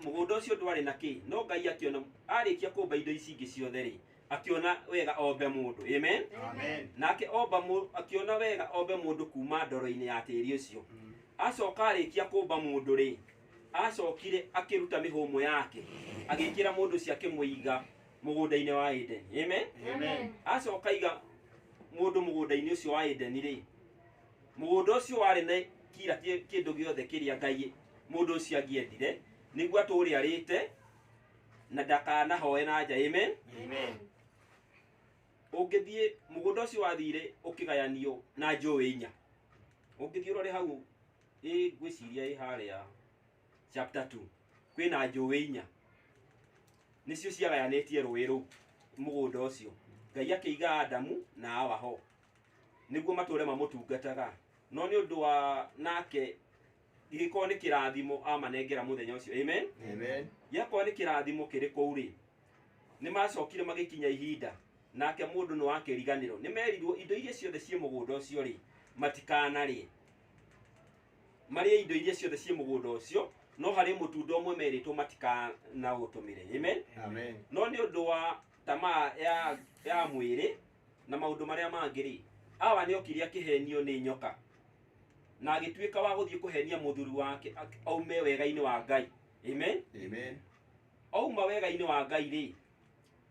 mũgũnda ũcio ndwarĩ na kĩ no ngai akĩona arĩkia kũmba indo ici ingĩ ciothe rĩ akĩona wega ombe mũndũ amen Amen. nake omba mũ- akĩona wega ombe mũndũ kuma ndoro-inĩ ya tĩri ũcio acoka arĩkia kũmba mũndũ rĩ acokire akĩruta mĩhũmũ yake agĩkĩra mũndũ ũcio akĩmũiga mũgũnda-inĩ wa edeni amen Amen. acoka iga mũndũ mũgũnda-inĩ ũcio wa edeni rĩ Mũgũnda ũcio warĩ na kira kĩndũ gĩothe kĩrĩa Ngai mũndũ ũcio angĩendire nĩguo atũũre arĩte na ndakanahoe na nja. Amen. Amen. Ũngĩthiĩ mũgũnda ũcio wathire ũkĩgayanio na njũĩ inya. Ũngĩthiĩ ũrore hau ĩ ngwĩciria ĩ harĩa chapter 2 kwĩna njũĩ inya nĩcio ciagayanĩtie rũĩ rũu mũgũnda ũcio. Ngai akĩiga Adamu na Hawa ho nĩguo matũũre mamũtungataga no nĩ ũndũ wa nake gĩkorwo nĩ kĩrathimo amanengera mũthenya ũcio amen Amen. gĩakorwo nĩ kĩrathimo kĩrĩ kũu rĩ nĩ macokire magĩkinya ihinda nake mũndũ nĩ wa kĩriganĩro nĩ merirwo indo iria ciothe ciĩ mũgũnda ũcio rĩ matikanarĩe marĩe indo iria ciothe ciĩ mũgũnda ũcio no harĩ mũtunda ũmwe merĩtwo matikanaũtũmĩre amen Amen. no nĩ ũndũ wa tamaa ya, ya mwĩrĩ na maũndũ marĩa mangĩ rĩ awa nĩ okire akĩhenio nĩ nyoka na agĩtuĩka wa gũthiĩ kũhenia mũthuri wake ak- aume wega-inĩ wa ngai amen Amen. auma wega-inĩ wa ngai rĩ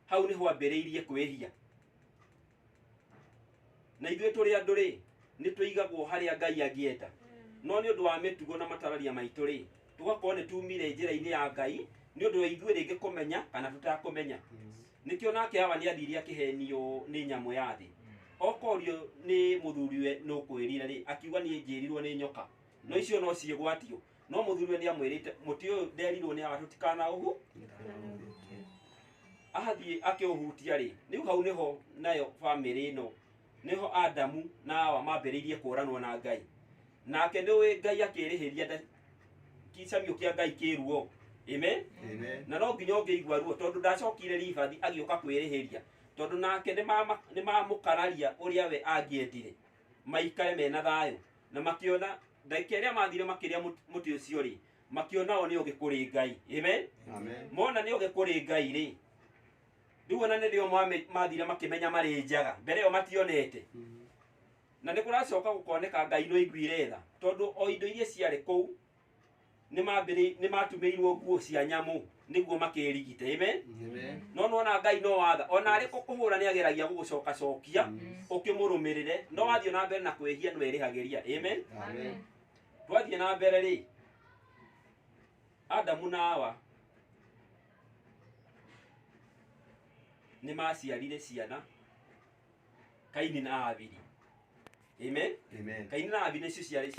hau nĩ hwambĩrĩirie kwĩhia na ithuĩ tũrĩ andũ rĩ nĩ tũigagwo harĩa ngai angĩenda no nĩ ũndũ wa mĩtugo na matararia maitũ rĩ tũgakorwo nĩ tumire njĩra-inĩ ya ngai nĩ ũndũ wa ithuĩ rĩngĩ kũmenya kana tũtakũmenya nĩkĩo nake hawa nĩ athiri akĩhenio nĩ nyamũ ya thĩ okorio nĩ mũthuriwe nĩ ũkwĩrire rĩ akiuga niĩ njĩrirwo nĩ nyoka no icio no ciĩgwatio no mũthuriwe nĩ amwĩrĩte mũtĩ ũyũ nderirwo nĩ hawa tũtikanaũhu athiĩ akĩũhutia rĩ rĩu hau nĩho nayo bamĩrĩ ĩno nĩho adamu na hawa mambĩrĩirie kũranwo na ngai nake nĩ ũĩ ngai akĩrĩhĩria nda kicamio kĩa ngai kĩruo amen Amen. na no nginya ũngĩigua ruo tondũ ndacokire ribathi agĩũka kwĩrĩhĩria tondũ nake nĩ mama- nĩ mamũkararia ũrĩa we angĩendire maikare mena thayũ na makĩona ndagĩka ĩrĩa mathire makĩrĩa mũt- mũtĩ ũcio rĩ makĩona o nĩ ũgĩ kũrĩ ngai amen Amen. mona nĩ ũgĩ kũrĩ ngai rĩ rĩu ona nĩrĩo mwame- mathire makĩmenya marĩ njaga mbere ĩyo mationete Na nĩ kũracoka gũkoneka Ngai nĩ oiguire tha, tondũ o indo iria ciarĩ kũu nĩ maambĩrĩ- nĩ maatumĩirwo nguo cia nyamũ nĩguo makĩĩrigite. Amen. Amen. No nĩwona Ngai no watha ona arĩ kũkũhũra nĩ ageragia gũgũcokacokia ũkĩmũrũmĩrĩre no wathiĩ na mbere na kwĩhia nĩ werĩhagĩria. Amen. Amen. Twathiĩ na mbere rĩ, Adamu na Hawa nĩ maciarire ciana kaini na abiri amen Amen. kaini na abiri nĩcio ciarĩ cia